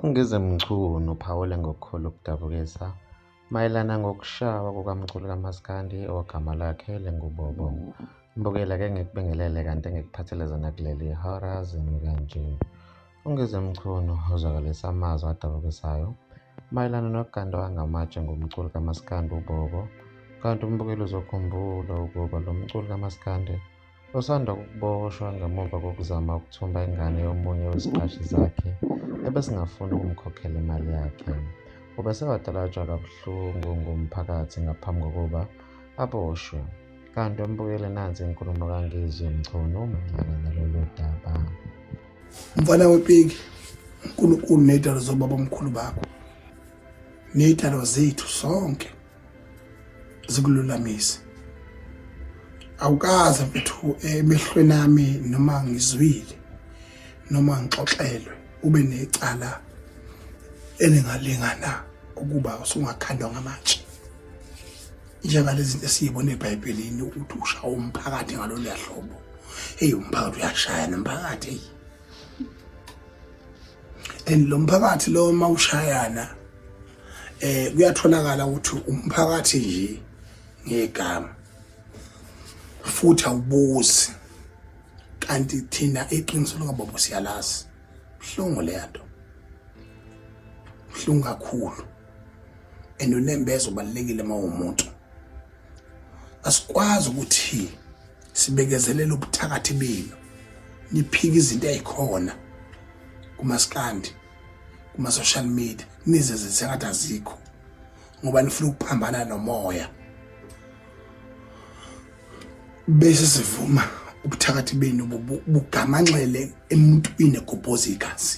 UNgize Mchunu uphawule ngokukhulu ukudabukisa mayelana ngokushawa kukamculi kamaskandi ogama lakhe linguBobo. Mbukela ke ngikubingelele kanti ngikuphathele zona kuleli hora zimi kanje. UNgize Mchunu uzwakalisa amazwi adabukisayo Mayelana noganda wangamatshe ngomculi kamaskandi uBobo, kanti umbukeli uzokhumbula ukuba lo mculi kamaskandi usanda kuboshwa ngemuva kokuzama ukuthumba ingane yomunye weziqashi zakhe ebesingafuni ukumkhokhela imali yakhe. Ubesewatalatshwa kabuhlungu ngumphakathi ngaphambi kokuba aboshwe. Kanti umbukeli nansi inkulumo kaNgizwe Mchunu mayelana nalolu daba. mfana wepiki unkulunkulu ney'dalo zobaba omkhulu bakho ney'dalo zethu sonke zikululamise awukaze mfethu emehlweni ami noma ngizwile noma ngixoxelwe ube necala elingalingana ukuba usungakhandwa ngamatshe njengalezi esiyibona ebhayibhelini ukuthi ushawa umphakathi ngalolu yahlobo eyi umphakathi uyashaya nomphakathi eyi and lo mphakathi lo uma ushayana eh kuyatholakala ukuthi umphakathi nje ngegama futhi awubuzi kanti thina iqiniso lokababa siyalazi buhlungu le nto buhlungu kakhulu and unembeza ubalekile uma umuntu asikwazi ukuthi sibekezelele ubuthakathi benu niphika izinto ezikhona kumaskandi kuma social media nize zinsengathi azikho ngoba nifuna ukuphambana nomoya bese sivuma ubuthakathi benu bugamanxele emuntwini egobhoza igazi